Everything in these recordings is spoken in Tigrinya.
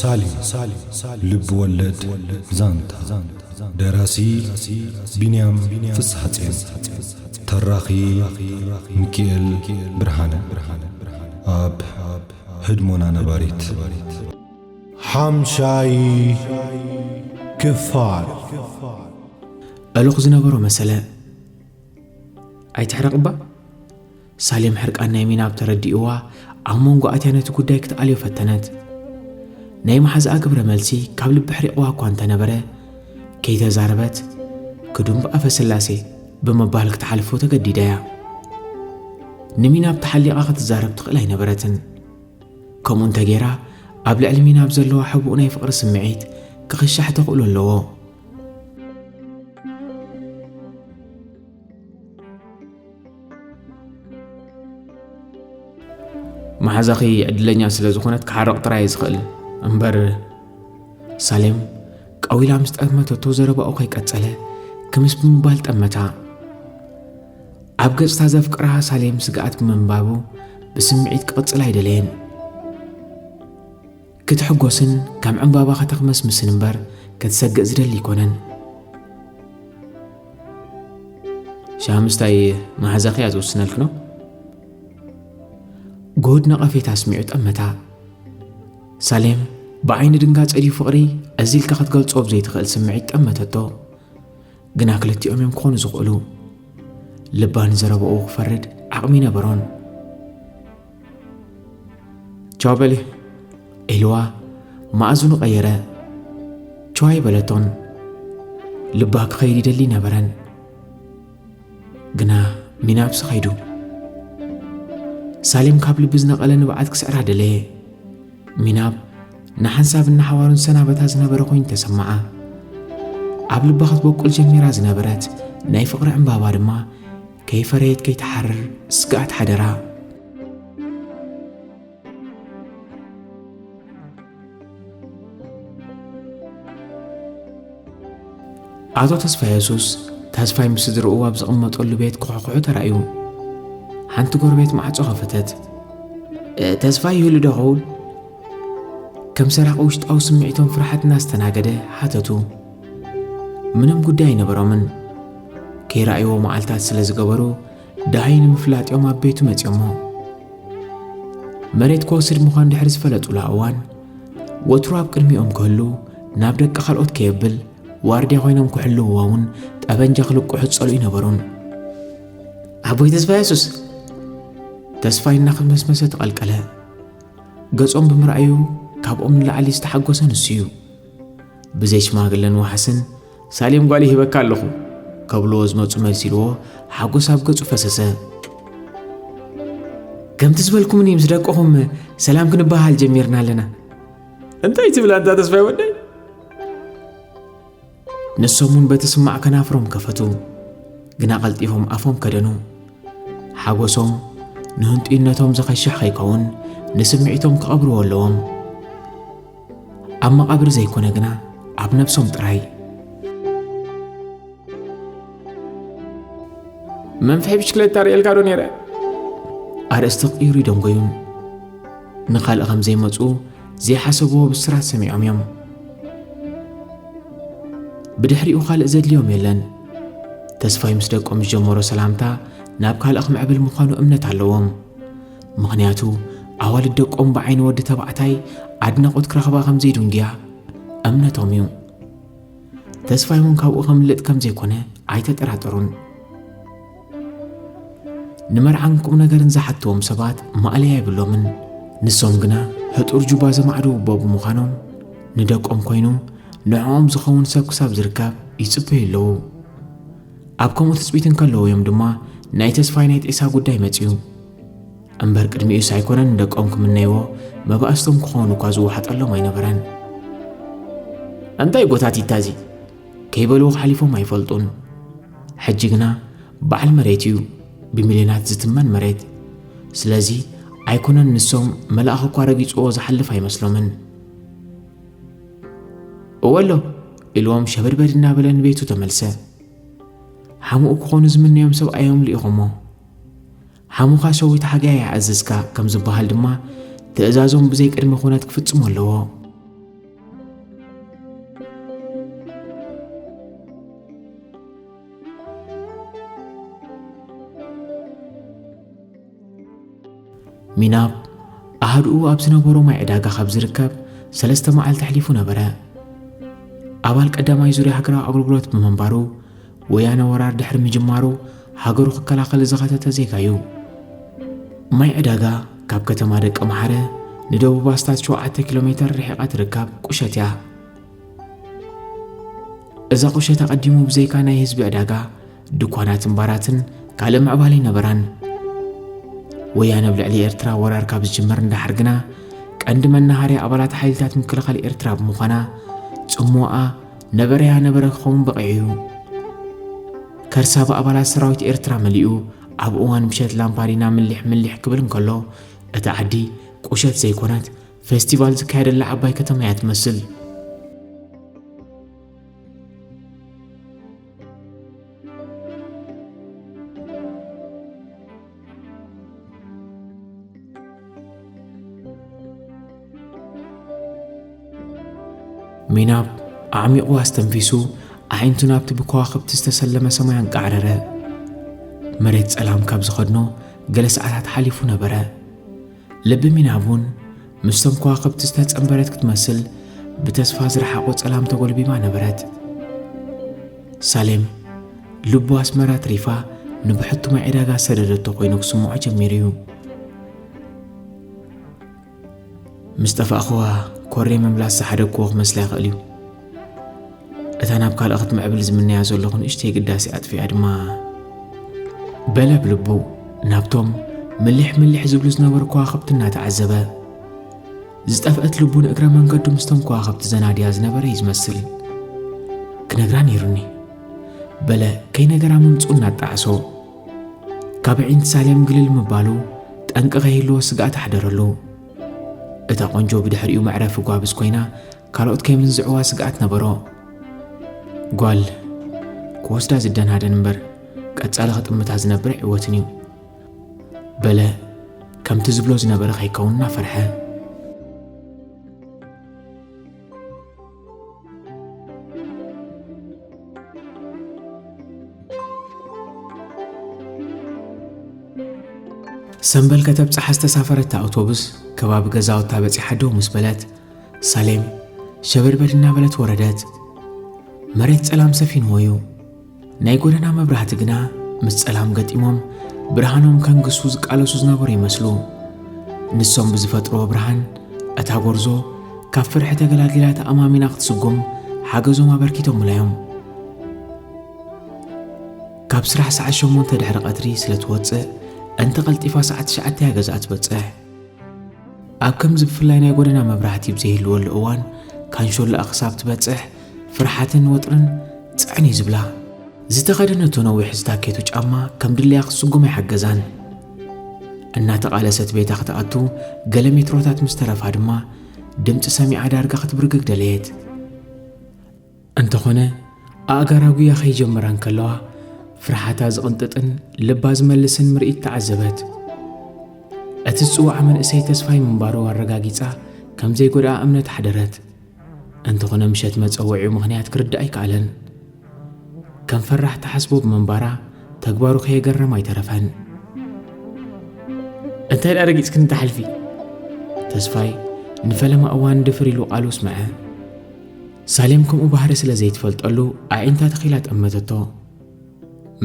ሳሊ ልቢ ወለድ ዛንታ ደራሲ ቢንያም ፍስሓጼን ተራኺ ሚኪኤል ብርሃነ ኣብ ህድሞና ነባሪት ሓምሻይ ክፋል እልኽ ዝነበሮ መሰለ ኣይትሕረቕባ ሳሌም ሕርቃን ናይ ሚናብ ተረዲእዋ ኣብ መንጎ ኣትያ ነቲ ጉዳይ ክትኣልዮ ፈተነት ናይ መሓዛኣ ግብረ መልሲ ካብ ልቢ ሕሪቕዋ እኳ እንተነበረ ከይተዛረበት ክዱም ብኣፈ ስላሴ ብምባል ክትሓልፎ ተገዲዳ እያ ንሚናብ ተሓሊቓ ክትዛረብ ትኽእል ኣይነበረትን ከምኡ እንተ ገይራ ኣብ ልዕሊ ሚና ኣብ ዘለዋ ሕቡእ ናይ ፍቕሪ ስምዒት ክኽሻሕ ተኽእሎ ኣለዎ። መሓዛኺ ዕድለኛ ስለ ዝኾነት ክሓርቕ ጥራይ ዝኽእል እምበር ሳሌም ቀዊላ ምስ ጠመተቶ ዘረባኡ ከይቀጸለ ክምስ ብምባል ጠመታ ኣብ ገጽታ ዘፍቅራ ሳሌም ስግኣት ብምንባቡ ብስምዒት ክቕጽል ኣይደለየን። ክትሕጎስን ከም ዕምባባ ከተኽመስምስን እምበር ክትሰግእ ዝደሊ ኣይኮነን ሻምስታይ መሓዛኺ እያ ዝውስነልክ ነው ጎድ ነቐፌታ ኣስሚዑ ጠመታ ሳሌም ብዓይኒ ድንጋጸ ድዩ ፍቕሪ እዚ ኢልካ ክትገልጾ ብዘይትኽእል ስምዒት ጠመተቶ ግና ክልቲኦም እዮም ክኾኑ ዝኽእሉ። ልባ ንዘረባኡ ክፈርድ ዓቕሚ ነበሮን። ቻው በሊ ኢልዋ ማእዝኑ ቀየረ። ቸዋይ በለቶን ልባ ክኸይድ ይደሊ ነበረን ግና ሚናብሲ ኸይዱ ሳሌም ካብ ልቢ ዝነቐለ ንብዓት ክስዕራ ደለየ ሚናብ ንሓንሳብን ንሓዋሩን ሰናበታ ዝነበረ ኮይኑ ተሰማዓ። ኣብ ልባ ክትበቁል ጀሚራ ዝነበረት ናይ ፍቕሪ ዕምባባ ድማ ከይፈረየት ከይትሓርር ስግኣት ሓደራ። ኣቶ ተስፋየሱስ ተስፋይ ምስ ስድርኡ ኣብ ዝቕመጠሉ ቤት ክሑኩሑ ተራእዩ ሓንቲ ጎረቤት ማዕጾ ኸፈተት ተስፋይ ይህሉ ዶ ኸውን ከም ሰራቂ ውሽጣዊ ስምዒቶም ፍርሓት እናስተናገደ ሓተቱ ምንም ጉዳይ ኣይነበሮምን ከይረኣይዎ መዓልታት ስለ ዝገበሩ ደሃይ ንምፍላጥ እዮም ኣብ ቤቱ መጺኦሞ መሬት ክወስድ ምዃን ድሕሪ ዝፈለጡላ እዋን ወትሩ ኣብ ቅድሚኦም ክህሉ ናብ ደቂ ካልኦት ከየብል ዋርድያ ኮይኖም ክሕልውዎ እውን ጠበንጃ ክልቁሑ ዝጸልኡ ይነበሩን ኣቦይ ተስፋ የሱስ ተስፋይ እናኸመስመሰ ተቐልቀለ ገጾም ብምርኣዩ ካብኦም ንላዕሊ ዝተሓጎሰ ንሱ እዩ ብዘይ ሽማግለን ዋሕስን ሳሌም ጓል ይህበካ ኣለኹ ከብልዎ ዝመፁ መልሲ ኢልዎ ሓጎስ ኣብ ገፁ ፈሰሰ። ከምቲ ዝበልኩምኒ ምስ ደቅኹም ሰላም ክንበሃል ጀሚርና ኣለና። እንታይ ትብል ኣንታ ተስፋይ ወደይ? ንሶም እውን በቲ ስማዕ ከናፍሮም ከፈቱ፣ ግና ቀልጢፎም ኣፎም ከደኑ። ሓጎሶም ንህንጡይነቶም ዘኸሽሕ ከይከውን ንስምዒቶም ክቐብርዎ ኣለዎም። ኣብ መቓብር ዘይኮነ ግና ኣብ ነብሶም ጥራይ። መንፍሒ ብሽክለታ ርእየልካ ዶ ነይረ? ኣርእስቲ ክቕይሩ ይደንጎዩን ንኻልእ ከም ዘይመፁ ዘይሓሰብዎ ብስራት ሰሚዖም እዮም ብድሕሪኡ ካልእ ዘድልዮም የለን ተስፋይ ምስ ደቆም ዝጀመሮ ሰላምታ ናብ ካልእ ክምዕብል ምዃኑ እምነት ኣለዎም ምኽንያቱ ኣዋልድ ደቆም ብዓይኒ ወዲ ተባዕታይ ኣድናቖት ክረኽባ ከም ዘይድንጉያ እምነቶም እዩ። ተስፋይ እውን ካብኡ ከምልጥ ከም ዘይኮነ ኣይተጠራጠሩን። ንመርዓን ቁም ነገርን ዝሓትዎም ሰባት ማእለያ የብሎምን። ንሶም ግና ህጡር ጁባ ዘማዕዱ እቦ ብምዃኖም ንደቆም ኮይኑ ንዕኦም ዝኸውን ሰብ ክሳብ ዝርከብ ይጽበዩ ኣለዉ። ኣብ ከምኡ ትጽቢት እንከለዉ እዮም ድማ ናይ ተስፋይ ናይ ጤሳ ጉዳይ መጺኡ። እምበር ቅድሚኡስ ኣይኮነን ንደቆም ክምነይዎ መባእስቶም ክኾኑ እኳ ዝወሓጠሎም ኣይነበረን። እንታይ ጎታቲታ እዚ ከይበልዎ ሓሊፎም ኣይፈልጡን። ሕጂ ግና በዓል መሬት እዩ ብሚልዮናት ዝትመን መሬት። ስለዚ ኣይኮነን ንሶም መልኣኽ እኳ ረጊጽዎ ዝሓልፍ ኣይመስሎምን። እወ ኣሎ ኢልዎም ሸበድበድ እናበለ ንቤቱ ተመልሰ። ሓሙኡ ክኾኑ ዝምነዮም ሰብኣዮም ልኢኾሞ ሓሙኻ ሸዊት ሓጋይ ኣዝዝካ ከም ዝበሃል ድማ ትእዛዞም ብዘይ ቅድመ ኩነት ክፍጽሙ ኣለዎ። ሚናብ ኣሃድኡ ኣብ ዝነበሮ ማይ ዕዳጋ ካብ ዝርከብ ሰለስተ መዓልቲ ኣሕሊፉ ነበረ። ኣባል ቀዳማይ ዙርያ ሃገራዊ ኣገልግሎት ብምንባሩ ወያነ ወራር ድሕሪ ምጅማሩ ሃገሩ ክከላኸል ዝኸተተ ዜጋ እዩ። ማይ ዕዳጋ ካብ ከተማ ደቂ መሓረ ንደቡብ ኣስታት 7 ኪሎ ሜተር ርሒቓ ትርከብ ቁሸት እያ። እዛ ቁሸት ኣቐዲሙ ብዘይካ ናይ ህዝቢ ዕዳጋ ድኳናትን ባራትን ካልእ ምዕባለ ኣይነበራን። ወያነ ኣብ ልዕሊ ኤርትራ ወራር ካብ ዝጅምር እንዳሓር ግና ቀንዲ መናሃርያ ኣባላት ሓይልታት ምክልኻል ኤርትራ ብምዃና ጽምዋኣ ነበረያ ነበረ ክኸውን በቒዑ እዩ። ከርሳ ብኣባላት ሰራዊት ኤርትራ መሊኡ ኣብ እዋን ምሸት ላምፓዲና ምሊሕ ምሊሕ ክብል እንከሎ እታ ዓዲ ቁሸት ዘይኮነት ፌስቲቫል ዝካየደላ ዓባይ ከተማ እያ ትመስል። ሚናብ ኣዕሚቑ ኣስተንፊሱ ኣዒንቱ ናብቲ ብከዋኽብቲ ዝተሰለመ ሰማይ ኣንቃዕረረ መሬት ጸላም ካብ ዝኸድኖ ገለ ሰዓታት ሓሊፉ ነበረ ልቢ ሚናብ እውን ምስቶም ከዋኽብቲ ዝተጸንበረት ክትመስል ብተስፋ ዝረሓቖ ጸላም ተጎልቢባ ነበረት። ሳሌም ልቡ ኣስመራ ትሪፋ ንብሕቱማ ዕዳጋ ዝሰደደቶ ኮይኑ ክስምዖ ጀሚሩ እዩ። ምስ ጠፋእኽዋ ኮሬ ምምላስ ዝሓደግክዎ ክመስላ ይኽእል እዩ። እታ ናብ ካልእ ክትምዕብል ዝምነያ ዘለኹ ንእሽተይ ግዳሴ ኣጥፊኣ ድማ በለ ብልቡ ናብቶም ምሊሕ ምሊሕ ዝብሉ ዝነበሩ ከዋኸብቲ እናተዓዘበ ዝጠፍአት ልቡ ንእግረ መንገዱ ምስቶም ከዋኸብቲ ዘናድያ ዝነበረ እዩ ዝመስል ክነግራ ነይሩኒ በለ ከይነገራ ምምፅኡ እናጣዕሶ ካብ ዒንቲ ሳሌም ግልል ምባሉ ጠንቂ ከይህልዎ ስግኣት ኣሕደረሉ እታ ቆንጆ ብድሕሪኡ መዕረፊ ጓብዝ ኮይና ካልኦት ከይምንዝዕዋ ስግኣት ነበሮ። ጓል ክወስዳ ዝደናደን እምበር ቀጻሊ ክጥምታ ዝነብር ኣይዕወትን እዩ በለ ከምቲ ዝብሎ ዝነበረ ከይከውን እናፈርሐ ሰንበል ከተብጽሓ ዝተሳፈረታ ኣውቶቡስ ከባቢ ገዛውታ በጺሓ ደው ምስ በለት ሳሌም ሸበድበድ እናበለት ወረደት። መሬት ጸላም ሰፊንዎ እዩ። ናይ ጎደና መብራህቲ ግና ምስ ጸላም ገጢሞም ብርሃኖም ከንግሱ ዝቃለሱ ዝነበሩ ይመስሉ። ንሶም ብዝፈጥርዎ ብርሃን እታ ጎርዞ ካብ ፍርሒ ተገላጊላ ተኣማሚና ክትስጉም ሓገዞም ኣበርኪቶምላ እዮም። ካብ ስራሕ ሰዓት ሸሞንተ ድሕሪ ቐትሪ ስለ ትወጽእ እንተ ቐልጢፋ ሰዓት ትሽዓተ እያ ገዛኣ ትበጽሕ። ኣብ ከምዚ ብፍላይ ናይ ጎደና መብራህቲ ብዘይህልወሉ እዋን ካንሾላኣ ክሳብ ትበጽሕ ፍርሓትን ወጥርን ጽዕን እዩ ዝብላ። ዝተኸደነቶ ነዊሕ ዝታኬቱ ጫማ ከም ድለያ ክትስጉም ኣይሓገዛን። እናተቓለሰት ቤታ ክትኣቱ ገለ ሜትሮታት ምስ ተረፋ ድማ ድምፂ ሰሚዓ ዳርጋ ክትብርግግ ደለየት። እንተኾነ ኣእጋራ ጉያ ከይጀመራ እንከለዋ ፍርሓታ ዝቕንጥጥን ልባ ዝመልስን ምርኢት ተዓዘበት። እቲ ዝጽዋዕ መንእሰይ ተስፋይ ምንባሩ ኣረጋጊጻ ከም ዘይጎድኣ እምነት ሓደረት እንተኾነ ምሸት መጸወዒኡ ምኽንያት ክርዳእ ኣይከኣለን ከም ፈራሕ ተሓስቦ ብምንባራ ተግባሩ ከየገረም ኣይተረፈን እንታይ ደኣ ረጊጽክኒ ተሓልፊ ተስፋይ ንፈለማ እዋን ድፍር ኢሉ ቃሉ ስምዐ ሳሌም ከምኡ ባህሪ ስለ ዘይትፈልጠሉ ኣዒንታ ተኺላ ጠመተቶ።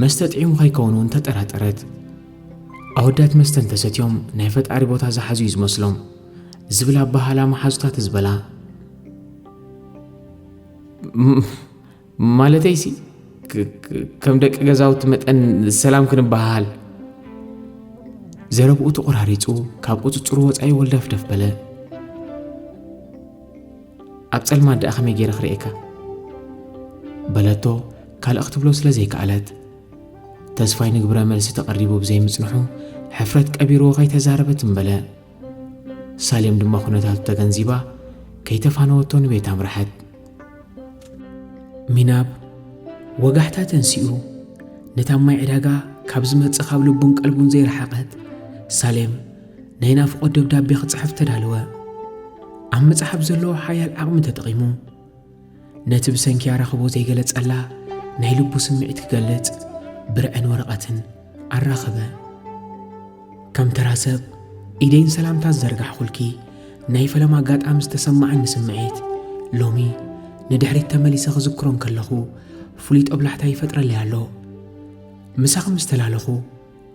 መስተ ጥዒሙ ከይከውን እውን ተጠራጠረት። ኣወዳት መስተ እንተሰትዮም ናይ ፈጣሪ ቦታ ዝሓዙ እዩ ዝመስሎም ዝብል ኣባሃላ መሓዙታ ትዝበላ ማለተይሲ ከም ደቂ ገዛውቲ መጠን ሰላም ክንበሃል ዘረብኡ ተቖራሪጹ ካብ ቁፅፅሩ ወፃኢ ወልዳፍደፍ በለ። ኣብ ጸልማት ደኣ ከመይ ገይረ ክርእየካ በለቶ ካልእ ክትብሎ ስለ ዘይከኣለት ተስፋይ ንግብረ መልሲ ተቐሪቡ ብዘይምጽንሑ ሕፍረት ቀቢርዎ ከይተዛረበት እምበለ ሳሌም ድማ ኩነታቱ ተገንዚባ ከይተፋነወቶ ንቤት ኣምርሐት ሚናብ ወጋሕታ ተንሲኡ ነታ ማይ ዕዳጋ ካብ ዝመጽእ ካብ ልቡን ቀልቡን ዘይረሓቐት ሳሌም ናይ ናፍቖት ደብዳቤ ክጽሕፍ ተዳለወ። ኣብ ምጽሓፍ ዘለዎ ሓያል ዓቕሚ ተጠቒሙ ነቲ ብሰንኪ ኣራኽቦ ዘይገለጸላ ናይ ልቡ ስምዒት ክገልጽ ብርዕን ወረቐትን ኣራኸበ። ከም ተራ ሰብ ኢደይን ሰላምታ ዝዘርጋሕኹልኪ ናይ ፈለማ ኣጋጣሚ ዝተሰማዓኒ ስምዒት ሎሚ ንድሕሪት ተመሊሰ ክዝክሮ እንከለኹ ፍሉይ ጦብላሕታ ይፈጥረለይ ኣሎ። ምሳኺ ምስ ተላለኹ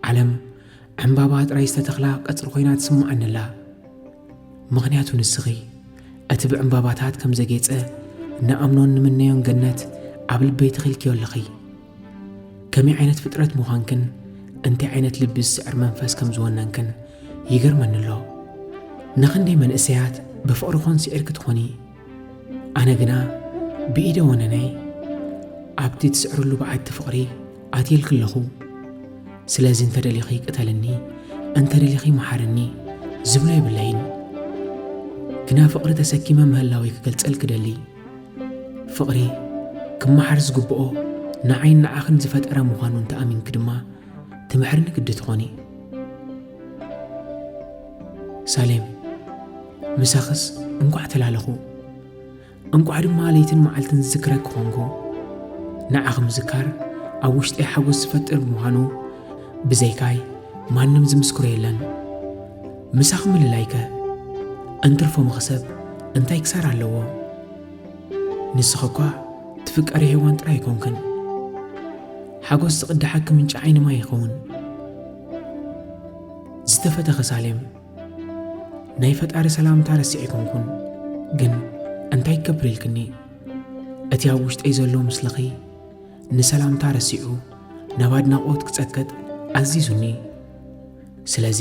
ዓለም ዕምባባ ጥራይ ዝተተኽላ ቀጽሪ ኮይና ትስምዓኒ ኣላ። ምኽንያቱ ንስኺ እቲ ብዕምባባታት ከም ዘጌጸ ንኣምኖን ንምነዮን ገነት ኣብ ልበይ ተኺልክዮ ኣለኺ። ከመይ ዓይነት ፍጥረት ምዃንክን እንታይ ዓይነት ልቢ ዝስዕር መንፈስ ከም ዝወነንክን ይገርመኒ ኣሎ። ንኽንደይ መንእሰያት ብፍቕሪ ኮን ስዒርኪ ትኾኒ? ኣነ ግና ብኢደ ወነነይ ኣብቲ ትስዕርሉ በዓቲ ፍቕሪ ኣትየልኪ ኣለኹ ስለዚ እንተደሊኺ ቅተልኒ እንተደሊኺ መሓርኒ ዝብሎ የብለይን ግና ፍቕሪ ተሰኪመ ምህላወይ ክገልጸል ክደሊ ፍቕሪ ክመሓር ዝግብኦ ንዓይን ንዓኽን ዝፈጠረ ምዃኑ እንተኣሚንኪ ድማ ትምሕርኒ ግዲ ትኾኒ ሳሌም ምሳኽስ እንቋዕ ተላለኹ፣ እንቋዕ ድማ ለይትን መዓልትን ዝዝክረኪ ኾንኩ። ንዓኺ ምዝካር ኣብ ውሽጠይ ሓጎስ ዝፈጥር ብምዃኑ ብዘይካይ ማንም ዝምስክሮ የለን። ምሳኺ ምልላይከ እንትርፎ መኽሰብ እንታይ ክሳራ ኣለዎ? ንስኺ እኳ ትፍቀሪ ሄዋን ጥራይ ኣይኮንክን፣ ሓጎስ ዝቕዳሓኪ ምንጪ ዓይኒ ማይ ይኸውን። ዝተፈተኸ ሳሌም ናይ ፈጣሪ ሰላምታ ረሲዕ ኣይኮንኩን ግን እንታይ ክገብር ኢልክኒ እቲ ኣብ ውሽጠይ ዘሎ ምስልኺ ንሰላምታ ረሲዑ ናብ ኣድናቖት ክጸቅጥ ኣዚዙኒ ስለዚ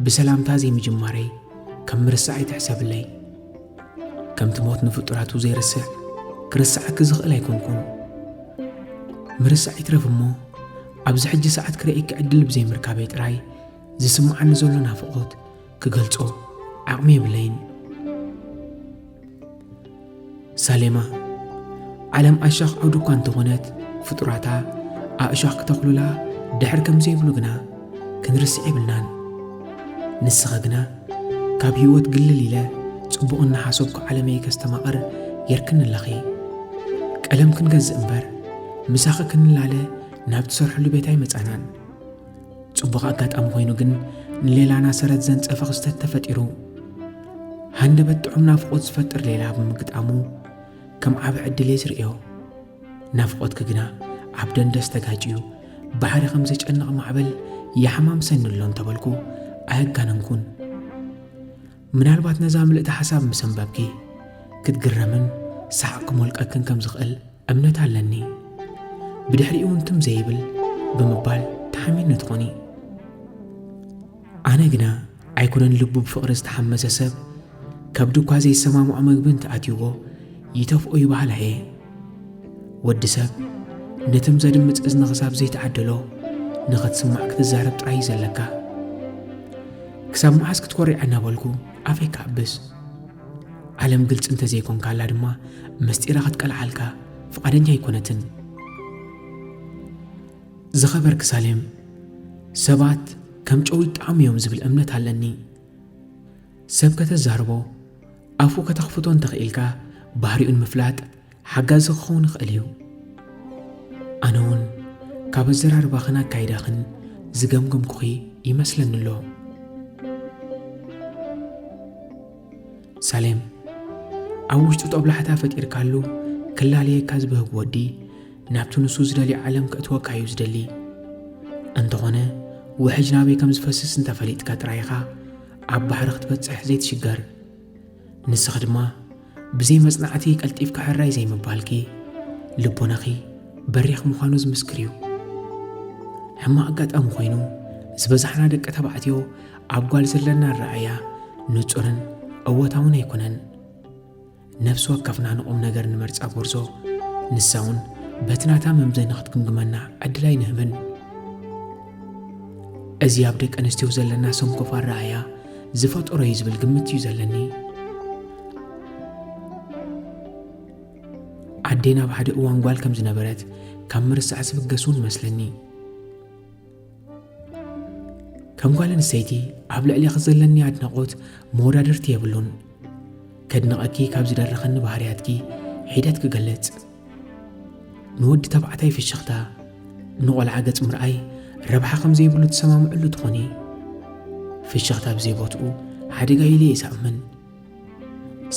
ብሰላምታ ዘይምጅማረይ ከም ምርሳዕ ኣይትሕሰብለይ ከምቲ ሞት ንፍጡራቱ ዘይርስዕ ክርስዓኪ ዝኽእል ኣይኮንኩን ምርሳዕ ይትረፍ እሞ ኣብዚ ሕጂ ሰዓት ክርእየኪ ዕድል ብዘይምርካበይ ጥራይ ዝስምዓኒ ዘሎ ናፍቖት ክገልጾ ዓቕሚ የብለይን። ሳሌማ ዓለም ኣሻኽ ዓውዲ እኳ እንተኾነት ፍጡራታ ኣእሻኽ ክተኽሉላ ድሕር ከም ዘይብሉ ግና ክንርስዕ የብልናን። ንስኸ ግና ካብ ህይወት ግልል ኢለ ጽቡቕ እናሓሰብኩ ዓለመይ ከስተማቕር ጌርክኒ ኣለኺ። ቀለም ክንገዝእ እምበር ምሳኺ ክንላለ ናብ ትሰርሕሉ ቤት ኣይመጻናን። ጽቡቕ ኣጋጣሚ ኮይኑ ግን ንሌላና ሰረት ዘንጸፈ ክስተት ተፈጢሩ። ሃንደበት ጥዑም ናፍቖት ዝፈጥር ሌላ ብምግጣሙ ከም ዓቢ ዕድል እየ ዝርእዮ። ናፍቆትኪ ግና ኣብ ደንደስ ተጋጭዩ ባሕሪ ከም ዘጨንቕ ማዕበል ይሓማምሰኒ ኣሎ እንተበልኩ ኣየጋነንኩን። ምናልባት ነዛ ምልእቲ ሓሳብ ምስ ኣንበብኪ ክትግረምን ሰሓቕ ክሞልቀክን ከም ዝኽእል እምነት ኣለኒ። ብድሕሪኡ እውን ትም ዘይብል ብምባል ተሓሚኒ ትኾኒ። ኣነ ግና ኣይኮነን ልቡ ብፍቕሪ ዝተሓመሰ ሰብ ከብዱ እኳ ዘይሰማምዖ መግቢ እንተኣትዩዎ ይተፍኦ ይበሃል ኣየ ወዲ ሰብ ነትም ዘድምፅ እዝኒ ክሳብ ዘይተዓደሎ ንኽትስማዕ ክትዛረብ ጥራይ እዩ ዘለካ ክሳብ መዓስ ክትኮሪዐ እናበልኩ ኣፈይ ክኣብስ ዓለም ግልፂ እንተዘይኮንካላ ድማ ምስጢራ ክትቀልዓልካ ፍቓደኛ ኣይኮነትን ዝኸበርኪ ሳሌም፣ ሰባት ከም ጨው ይጠዓሙ እዮም ዝብል እምነት ኣለኒ። ሰብ ከተዛርቦ፣ ኣፉ ከተኽፍቶ እንተኽኢልካ ባህሪኡ ንምፍላጥ ሓጋዚ ክኸውን ይኽእል እዩ። ኣነ እውን ካብ ኣዘራርባኽን ኣካይዳኽን ዝገምገምኩኺ ይመስለኒ ኣሎ። ሳሌም ኣብ ውሽጡ ጦብላሕታ ፈጢርካሉ ክላለየካ ዝበህግ ወዲ ናብቲ ንሱ ዝደልዮ ዓለም ከእትወካ እዩ ዝደሊ። እንተኾነ ውሕጅ ናበይ ከም ዝፈስስ እንተፈሊጥካ ጥራይ ኢኻ ኣብ ባሕሪ ክትበጽሕ ዘይትሽገር። ንስኺ ድማ ብዘይ መጽናዕቲ ቀልጢፍካ ሕራይ ዘይምባልኪ ልቦናኺ በሪኽ ምዃኑ ዝምስክር እዩ። ሕማቕ ኣጋጣሚ ኮይኑ ዝበዛሕና ደቂ ተባዕትዮ ኣብ ጓል ዘለና ኣረኣእያ ንጹርን እወታውን ኣይኮነን። ነፍሲ ወከፍና ንቑም ነገር ንመርጻ ጎርዞ ንሳ እውን በቲ ናታ መምዘኒ ክትግምግመና ዕድል ኣይንህብን እዚ ኣብ ደቂ ኣንስትዮ ዘለና ሰንኮፍ ኣረኣያ ዝፈጠሮ እዩ ዝብል ግምት እዩ ዘለኒ ዓዴና ኣብ ሓደ እዋን ጓል ከም ዝነበረት ካብ ምርሳዕ ዝብገስ እውን መስለኒ ከም ጓል ኣንስተይቲ ኣብ ልዕሌኺ ዘለኒ ኣድናቖት መወዳድርቲ የብሉን ከድንቐኪ ካብ ዝደረኸኒ ባህርያትኪ ሒደት ክገልጽ ንወዲ ተባዕታይ ፍሽኽታ ንቖልዓ ገጽ ምርኣይ ረብሓ ከም ዘይብሉ ትሰማምዕሉ ትኾኒ ፍሽኽታ ብዘይ ቦትኡ ሓደጋ ኢለ እየ ዝኣምን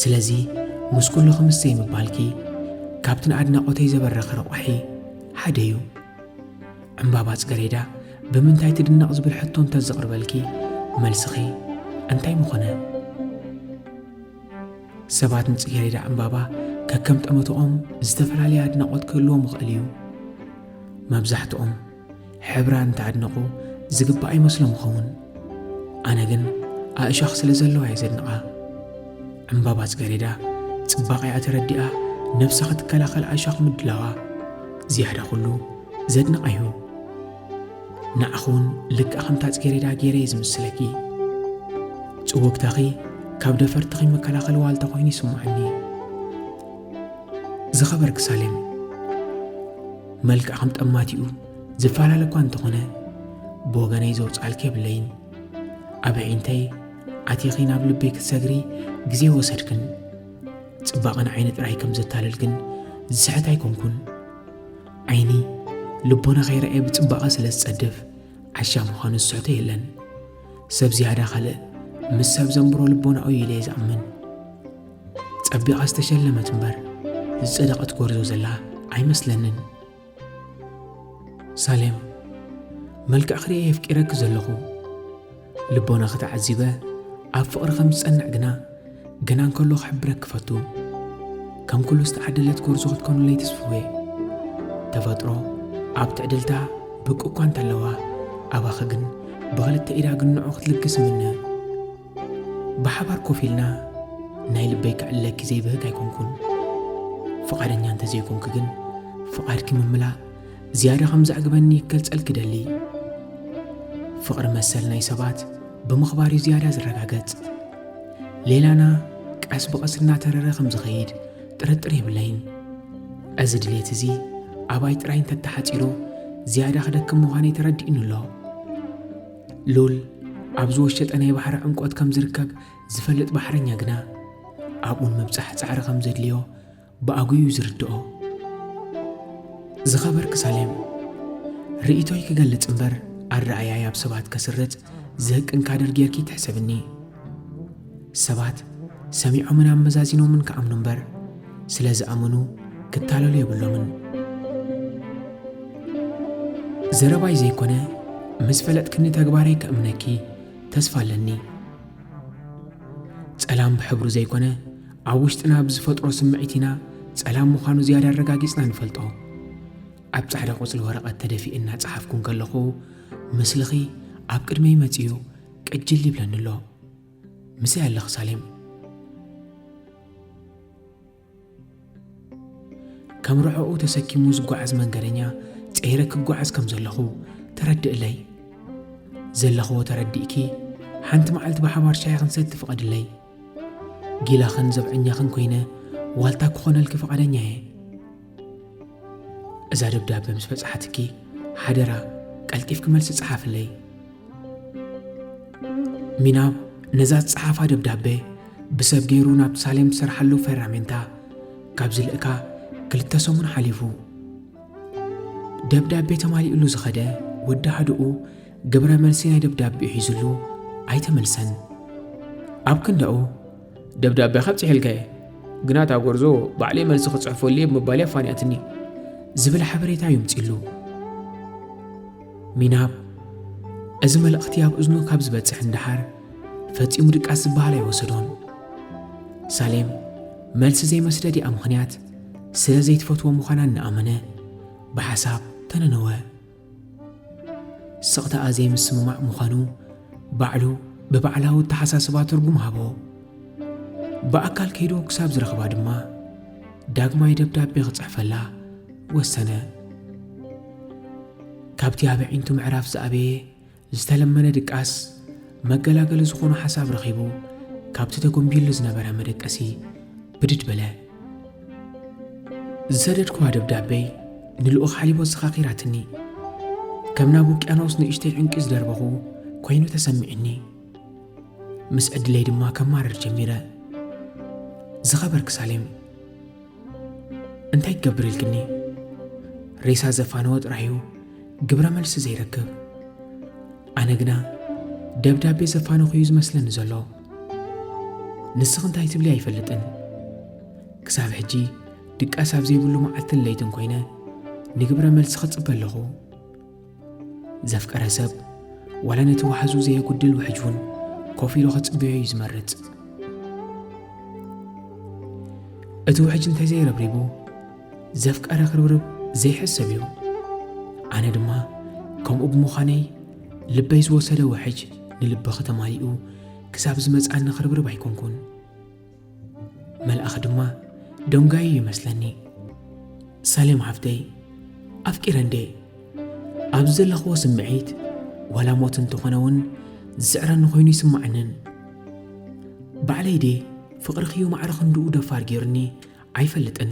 ስለዚ ምስ ኩሉ ክምሰይ ምባልኪ ካብቲ ንኣድናቖተይ ዘበረኸ ረቋሒ ሓደ እዩ። ዕምባባ ጽገሬዳ ብምንታይ ትድነቕ ዝብል ሕቶ እንተዘቕርበልኪ መልስኺ እንታይ ምኾነ? ሰባት ንጽጌሬዳ ዕምባባ ከከም ጠመተኦም ዝተፈላለየ ኣድናቖት ክህልዎም ይኽእል እዩ። መብዛሕትኦም ሕብራ እንተ ኣድነቑ ዝግባኣ ይመስሎም ይኸውን ኣነ ግን ኣእሻኽ ስለ ዘለዋ እየ ዘድንቓ ዕምባባ ጽገሬዳ ጽባቐኣ ተረዲኣ ነብሳ ክትከላኸል ኣእሻኽ ምድላዋ ዝያዳ ኩሉ ዘድንቓ እዩ ንዓኺ እውን ልክዕ ከምታ ጽጌሬዳ ገይረ እየ ዝምስለኪ ጽወግታኺ ካብ ደፈርትኺ መከላኸሊ ዋልታ ኮይኑ ይስምዓኒ ዝኸበርኪ ሳሌም መልክዕ ከም ጠማቲኡ ዝፈላለ እኳ እንተኾነ ብወገነይ ዘውፅኣልኪ የብለይን ኣብ ኣዒንተይ ኣቲኺ ናብ ልበይ ክትሰግሪ ግዜ ወሰድክን ፅባቐን ዓይኒ ጥራይ ከም ዘታልል ግን ዝስሕት ኣይኮንኩን ዓይኒ ልቦና ከይረኣየ ብፅባቐ ስለ ዝፀድፍ ዓሻ ምዃኑ ዝስሕቶ የለን ሰብ ዝያዳ ካልእ ምስ ሰብ ዘንብሮ ልቦናኡ ኢለ እየ ዝኣምን ጸቢቓ ዝተሸለመት እምበር ዝጸደቐት ጎርዞ ዘላ ኣይመስለንን። ሳሌም መልክዕ ክርኤ የፍቂረኪ ዘለኹ ልቦናኺ ተዓዚበ ኣብ ፍቕሪ ከም ዝጸንዕ ግና ገና እንከሎ ክሕብረኪ ፈቱ ከም ኩሉ ዝተዓደለት ጎርዞ ክትኮኑለይ ትስፍዌ ተፈጥሮ ኣብ ትዕድልታ ብቅ እኳ እንተለዋ ኣባኺ ግን ብኽልተ ኢዳ ግንዑ ክትልግስ ምነ ብሓባር ኮፍ ኢልና ናይ ልበይ ክዕለኪ ዘይብህግ ኣይኮንኩን። ፍቓደኛ እንተ ዘይኮንኪ ግን ፍቓድኪ ምምላእ ዝያዳ ከም ዘዕግበኒ ክገልጸልኪ ደሊ። ፍቕሪ መሰል ናይ ሰባት ብምኽባር እዩ ዝያዳ ዝረጋገጽ። ሌላና ቀስ ብቐስ እናተረረ ከም ዝኸይድ ጥርጥር የብለይን። እዚ ድሌት እዚ ኣባይ ጥራይ እንተተሓጺሩ ዝያዳ ክደክም ምዃነይ ተረዲኡኒ ኣሎ። ሉል ኣብ ዝወሸጠ ናይ ባሕሪ ዕምቆት ከም ዝርከብ ዝፈልጥ ባሕረኛ ግና ኣብኡ ንምብጻሕ ጻዕሪ ከም ዘድልዮ ብኣጉዩ ዝርድኦ ዝኸበርክ ሳሌም ርእቶይ ክገልጽ እምበር ኣረኣያይ ኣብ ሰባት ከስርጽ ዝህቅን ካደር ጌርኪ ትሕሰብኒ ሰባት ሰሚዖምን ኣመዛዚኖምን ክኣምኑ እምበር ስለ ዝኣመኑ ክታለሉ የብሎምን። ዘረባይ ዘይኮነ ምስ ፈለጥክኒ ተግባረይ ከእምነኪ ተስፋ ኣለኒ ጸላም ብሕብሩ ዘይኮነ ኣብ ውሽጥና ብዝፈጥሮ ስምዒት ኢና ጸላም ምዃኑ ዝያዳ ኣረጋጊጽና ንፈልጦ ኣብ ጻዕዳ ቁጽሊ ወረቐት ተደፊእና ጸሓፍኩን ከለኹ ምስልኺ ኣብ ቅድመይ መጺኡ ቅጅል ይብለኒ ኣሎ ምስይ ኣለኺ ሳሌም ከም ርዕኡ ተሰኪሙ ዝጓዓዝ መንገደኛ ፀይረ ክጓዓዝ ከም ዘለኹ ተረድእለይ ዘለኽዎ ተረዲእኪ ሓንቲ መዓልቲ ብሓባር ሻሂ ክንሰቲ ፍቐድለይ ጊላኽን ዘብዐኛኽን ኮይነ ዋልታ ክኾነልኪ ፍቓደኛ እየ። እዛ ደብዳበ ምስ በጽሓትኪ ሓደራ ቀልጢፍኪ መልሲ ጽሓፍለይ። ሚናብ ነዛ ዝጸሓፋ ደብዳበ ብሰብ ገይሩ ናብ ሳሌም ትሰርሓሉ ፈራሜንታ ካብ ዝልእካ ክልተ ሰሙን ሓሊፉ ደብዳቤ ተማሊእሉ ዝኸደ ወዲ ሃድኡ ግብረ መልሲ ናይ ደብዳቤኡ ሒዙሉ ኣይተመልሰን ኣብ ክንዳኡ ደብዳቤ ካብ ፅሒልካየ ግና እታ ጎርዞ ባዕለይ መልሲ ክፅሕፈሉ እየ ብምባል እያ ፋንያትኒ ዝብል ሓበሬታ ይምፅሉ ሚናብ እዚ መልእኽቲ ኣብ እዝኑ ካብ ዝበፅሕ እንዳሓር ፈፂሙ ድቃስ ዝበሃል ኣይወሰዶን ሳሌም መልሲ ዘይመስደድ እያ ምኽንያት ስለ ዘይትፈትዎ ምዃና እናኣመነ ብሓሳብ ተነነወ ስቕታኣ ዘይምስምማዕ ምዃኑ ባዕሉ ብባዕላዊ ኣተሓሳስባ ትርጉም ሃቦ። ብኣካል ከይዱ ክሳብ ዝረኽባ ድማ ዳግማይ ደብዳቤ ክጽሕፈላ ወሰነ። ካብቲ ኣብ ኣዒንቱ ምዕራፍ ዝኣበየ ዝተለመነ ድቃስ መገላገሊ ዝኾኖ ሓሳብ ረኺቡ ካብቲ ተጎንቢሉ ዝነበረ መደቀሲ ብድድ በለ። ዝሰደድኩዋ ደብዳበይ ንልኡኽ ሓሊቦ ኣዘኻኺራትኒ። ከም ናብ ውቅያኖስ ንእሽተይ ዕንቂ ዝደርበኹ ኮይኑ ተሰሚዕኒ። ምስ ዕድለይ ድማ ከማርር ጀሚረ። ዝኸበርክ ሳሌም እንታይ ክገብር ኢልክኒ ሬሳ ዘፋነወ ጥራሕ እዩ ግብረ መልሲ ዘይረክብ ኣነ ግና ደብዳቤ ዘፋነኹ እዩ ዝመስለኒ ዘሎ ንስኽ እንታይ ትብሊ ኣይፈልጥን ክሳብ ሕጂ ድቃስ ኣብ ዘይብሉ መዓልትን ለይትን ኮይነ ንግብረ መልሲ ክጽበ ኣለኹ ዘፍቀረ ሰብ ዋላ ነቲ ዋሕዙ ዘየጉድል ውሕጅ እውን ኮፍ ኢሉ ክጽበዮ እዩ ዝመርጽ እቲ ውሕጅ እንተዘይረብሪቡ ዘፍቀረ ክርብርብ ዘይሕሰብ እዩ ኣነ ድማ ከምኡ ብምዃነይ ልበይ ዝወሰደ ውሕጅ ንልቢ ከተማሊኡ ክሳብ ዝመጽኣኒ ክርብርብ ኣይኮንኩን መልኣኽ ድማ ደንጓዩ እዩ መስለኒ ሳሌም ሓፍተይ ኣፍቂረ እንዴ ኣብዚ ዘለኽዎ ስምዒት ዋላ ሞት እንተኾነ እውን ዝስዕረኒ ኮይኑ ይስማዓንን ባዕለይ ዴ ፍቕርኽዩ ማዕረ ክንድኡ ደፋር ገይሩኒ ኣይፈልጥን